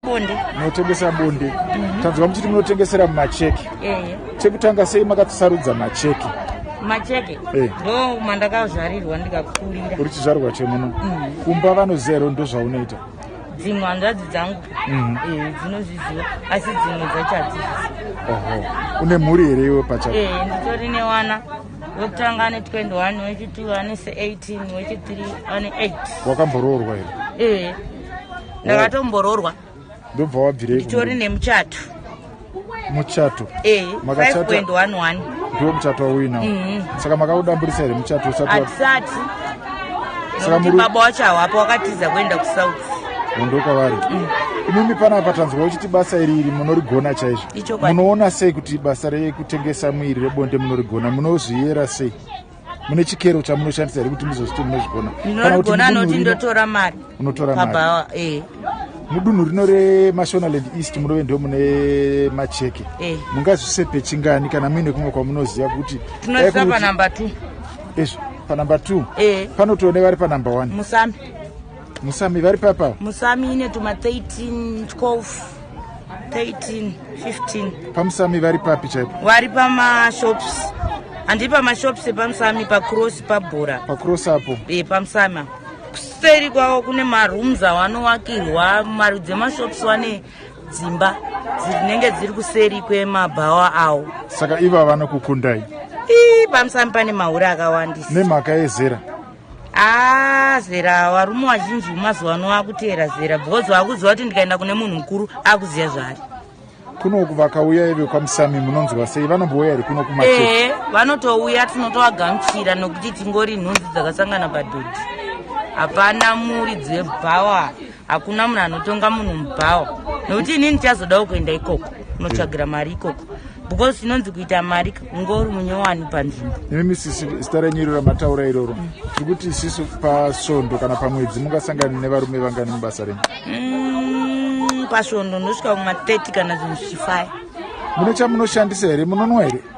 bonde munotengesa bonde mm -hmm. tanzwa muchiti munotengesera mumacheki yeah, yeah. chekutanga sei makatisarudza macheki macheke eh. ndo mandakazvarirwa ndikakurira uri chizvarwa chemuno mm. kumba vanozero ndo zvaunoita dzimwe hanzvadzi dzangu mm. eh, dzinozviziva asi dzimwe dzacho hadzizviziva oho une mhuri here iwe pachako eh, nditori newana wekutanga ane 21 wechitiri ane 18 wechitiri ane 8 wakamboroorwa here ndakatomboroorwa ndobva wabvirei nditori nemuchato muchato eh, ndiwo muchato wauinawo mhm. saka makaudamburisa here muchato usatisati nokuti baba wacho hawapo wakatiza kuenda kusouth hondo kwavari mm. imimi panapa tanzwa uchiti basa iri iri munorigona chaizvo munoona sei kuti basa rekutengesa muiri rebonde munorigona munozviyera sei mune chikero chamunoshandisa here kuti muzozviti munozvigona ndinogona anoti ndotora mari unotora mari eh. mudunhu rino remashonaland east munove ndo mune macheke eh. mungazvisepe chingani kana muine kumwe kwamunoziva kuti tinozisa panumber two ezvo panumber two eh. panotoone vari panumber one musambi musami vari papa musami ine tuma 13 12 13 15 pamusami vari papi chaipo vari pamashops handi pamashops epamusami pacross pabhora pacross apo e pamusami kuseri kwavo kune marooms awanowakirwa marudzi emashops wane dzimba dzinenge dziri kuseri kwemabhawa awo saka ivo vanokukundai ii pamusami pane mahure akawandisa nemhaka yezera aa ah, zera varume vazhinji vemazuva ano vakuteera zera because vakuziva kuti ndikaenda kune munhu mukuru akuziva zvaari kunoku vakauya ive kwamusami munonzwa sei vanombouya here kuno kuma ee vanotouya tinotovagamuchira nokuti tingori nhunzi dzakasangana padhodhi hapana muri dzebhawa hakuna munhu anotonga munhu mubhawa nokuti inini chazodawo kuenda ikoko unotsvagira mari ikoko because inonzi kuita mari kunge uri munyowani panzvimbo nemi sisi zita renyu iroro mataura iroro tiri kuti isisu pasvondo kana pamwedzi mungasangani nevarume vangani mubasa renyu mm, pasvondo ndosvika kuma 30 kana zvinhu zvichifive mune chamunoshandisa here munonwa here